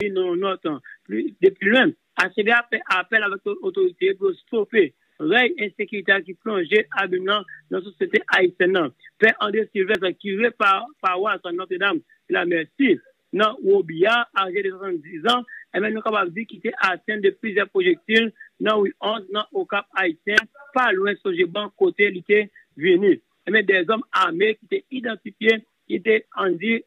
Yon nòt pli de pi lwen, ACB ap fè apèl avèk otorite yo pou yo stope rèy ensekirite a ki plonje abim nan nan sosyete ayisyèn nan. Pè André Sylvestre, kire pawas Notre Dame de la Mercy nan Robillard, aje de 70 zan, enben nou kapab di ki te atenn de plizyè pwojektil nan ri 11 nan Okap Ayisyen, pa lwen Sogeban kote li te vini. Enben dè zòm ame ki te idantifye ki te, ann di,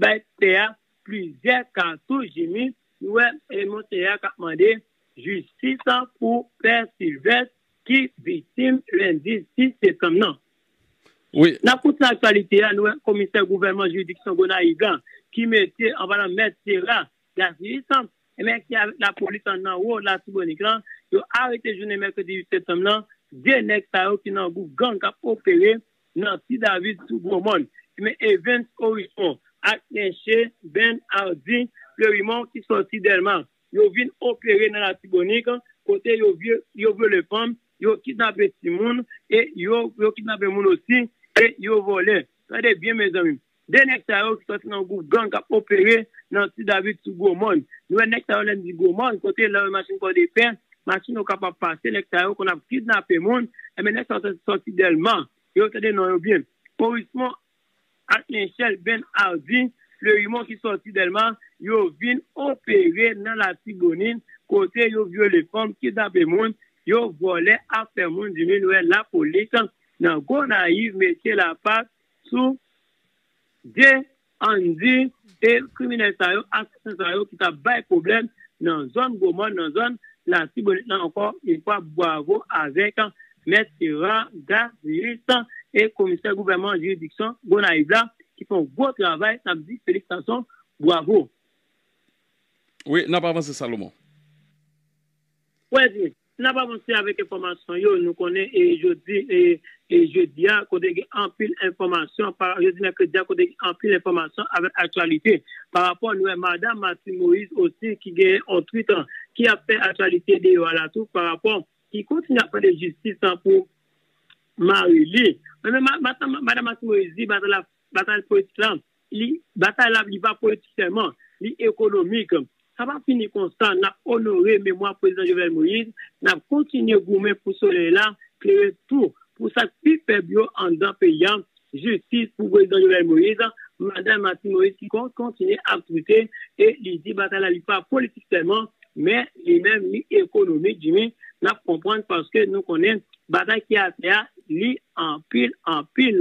bay pè a plizyè ka sou Jimmy nou wè e monseyè a kap mande jistis pou pè Sylvestre ki viktim lendi 6 septanm nan. Nan koute aktyalite a nou wè komisè gouvènman jiridiksyon Gonayiv la ki mete anba nan mèt Sera Dacius enben ki avèk lapolis an nan wo latibonit lan yo arete jounen mèkredi 8 septanm nan 2 nèg sa yo ki nan gwoup gang kap opere Nancy Davis sou Gwo Mòn, Eme Evens Orison ak Lenche Ben Hardy Fleurimont ki sòti Dèlma yo vin opere nan Latibonit kote yo vyole fanm, yo kidnape timoun e yo kidnape moun osi e yo vòlè. Tande byen mezanmi! 2 nèg sa yo ki sòti nan yon gwoup gang k ap opere nan Ti David sou Gwo Mòn. Nou wè nèg sa yo lè n di Gwo Mòn, kote lè w wè machin Pòdepè, machin Okap ap pase, nèg sa yo konn ap kidnape moun. Enben nèg sa yo sòti Dèlma. Yo tande non yo byen. Orismon ak Lenchèl Ben Ardi Flerimon ki sòti Dèlma, yo vin opere nan Latibonin kote yo vyole fanm, kidnape moun, yo vòlè afè moun. Di min wè lapolis nan Gonayiv mete lapat. sou de anndi e kriminèl sa yo, asasen sa yo ki t ap bay pwoblèm nan zòn Gwo Mòn, nan zòn Latibonit lan ankò yon fwa bwavo avèk mèt Hérard Garius e komisè gouvèman jiridiksyon Gonayiv la ki fè yon gwo travay n ap di felisitasyon bwavo. Wi n ap avanse Salomon. Wè byen Si nap avanse avèk enfòmasyon yo, nou konnen jodi e jedi a kote gen anpil enfòmasyon, jodi mèkredi a kote gen anpil enfòmasyon avèk aktyalite. Pa rapò nou wè madam Martine Moïse osi ki gen yon twit ki ap fè aktyalite deyò a la tou pa rapò ki kontinye ap mande jistis pou mari li. Men madam Martine Moïse di batay politik la Li, batay la li pa politik sèlman, li ekonomik. Sa pa fini konsa, n ap onore memwa Prezidan Jovenel Moïse, n ap kontinye goumen pou solèy la klere tou pou sa k pi fèb yo anndan peyi a, jistis pou Prezidan Jovenel Moïse, Madan Martine Moïse ki kontinye ap twitte e li di batay la li pa politik sèlman, men li menm li ekonomik, Jimmy, n ap konprann paske nou konnen batay ki atè a li anpil, anpil.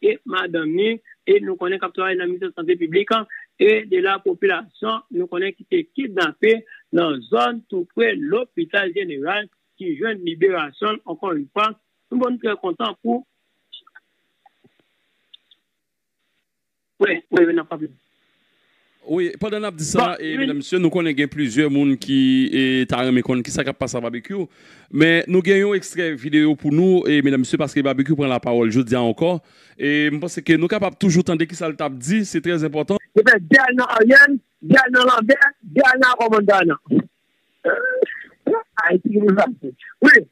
e madanm ni e nou konnen kap travay nan ministè sante piblik an e de la popilasyon nou konnen ki te kidnape nan zòn tou pre lopital jeneral ki jwenn liberasyon l ankò yn fwa nou bon nou trè kontan pou. Wi, pandan nap di sa, medam mesye, nou konnen gen plizyè moun ki ta renmen konn kisa kap pase a Babekyou. Men nou gen yon ekstrè videyo pou nou, medam mesye, paske Babekyou pran lapawòl jodi a ankò. E m panse ke nou kapab toujou tande kisa l tap di, se trè enpòtan. Yo fè dèy nan Ariel, dèy nan Lambert, dèy nan Armand Darlan. Ayiti gen pou l pase. Wi,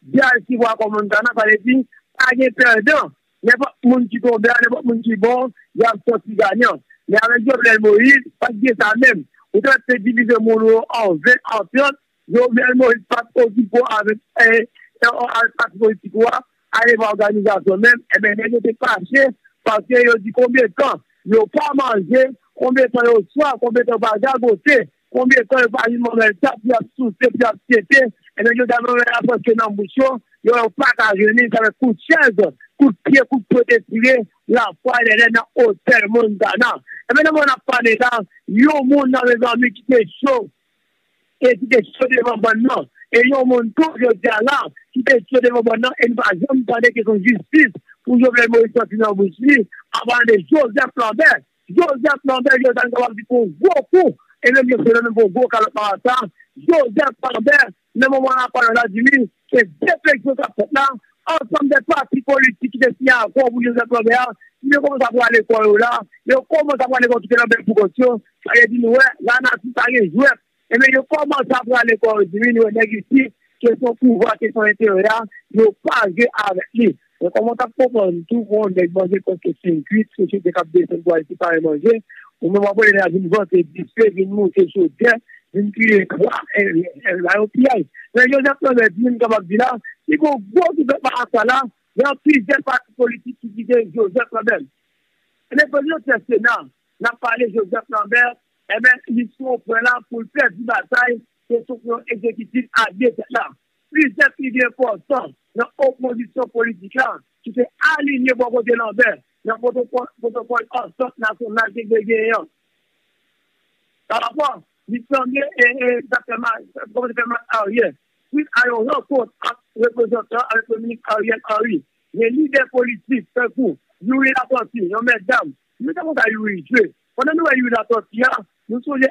De Alcibo a Montana pale di pa gen pèdan, nenpòt moun ki tonbe a, nenpòt moun ki bon, y ap sòti ganyan. Men avèk Jovenel Moïse, pa t gen sa menm. Ou ta te divize moun ou yo an 20, an 30, Jovenel Moïse pa t okipe w avèk pati politik ou a, ale ba òganizasyon menm. Enben nèg yo te fache paske yo di konbyen tan yo pa manje, konbyen tan yo swaf, konbyen tan yo pa gagote. Konbyen tan yo pa vin manman yo tap di ap souse pou ap tete ebyen jodi a manman yo ap rantre nan bouch yo yo wè yo paka jwenn li sa fè kout chèz kout pye kout pot estire lafwa lèlè nan otèl montana ebyen nan moman nap pale la yon moun la mezanmi ki te cho e ki te cho devan bann nan e yon moun tou jodi a la ki te cho devan bann nan e nou pa janm tande kesyon jistis pou jovenel moïse sòti nan bouch li anpalan de joseph lambert Joseph Lambert Josal m kapab di pou w gwo kou enèm yo sele men pou w gwo kalòt marasa Joseph Lambert nan moman a pale Vladimir se defleksyon k ap fèt la ansanm de pati politik ki te siyen akò pou Joseph Lambert a si yo kòmanse ap rale kò yo la yo kòmanse ap rale kò kite Lambert pou kont yo sa vle di nou wè lanati pa gen jwèt Ebyen yo komanse ap rale gòj wi nou wè nèg isi ke son pouvwa ke son enterè a yo pa jwe avèk li men kòman ou tap konprann tou bon nèg manje kòk ke sim kwit sosyete kap desann pou al sipare manje ou menm wap wè nèg la vin vantre dife vin moute chodyè vin kriye kwa èl la yon piyay men Joseph Lambert di m kapab di la si gon gwo ki fè pa sa la nan plizyè pati politik ki kite Joseph Lambert. Ebyen pèp yo tè sena nap pale Joseph Lambert. Enben, misyon pwen la pou l pèdi batay se sou yon egzekitif a 2 tèt la. Plizyè figi enpòtan nan opozisyon politik la ki te alinye bò kote Lanbè nan pwotokòl antant nasyonal ki te genyen an. Parapò, li sanble sa fè mal, sa kòmanse fè mal Aryè, swit a yon rankont ant reprezantan avèk Premye Minis Ariel Henry. Gen lidè politik tankou Youri Latortue, yon mètdam, nou te konn sa Youri jwe. Pandan nou wè Youri Latortue a, nou sonje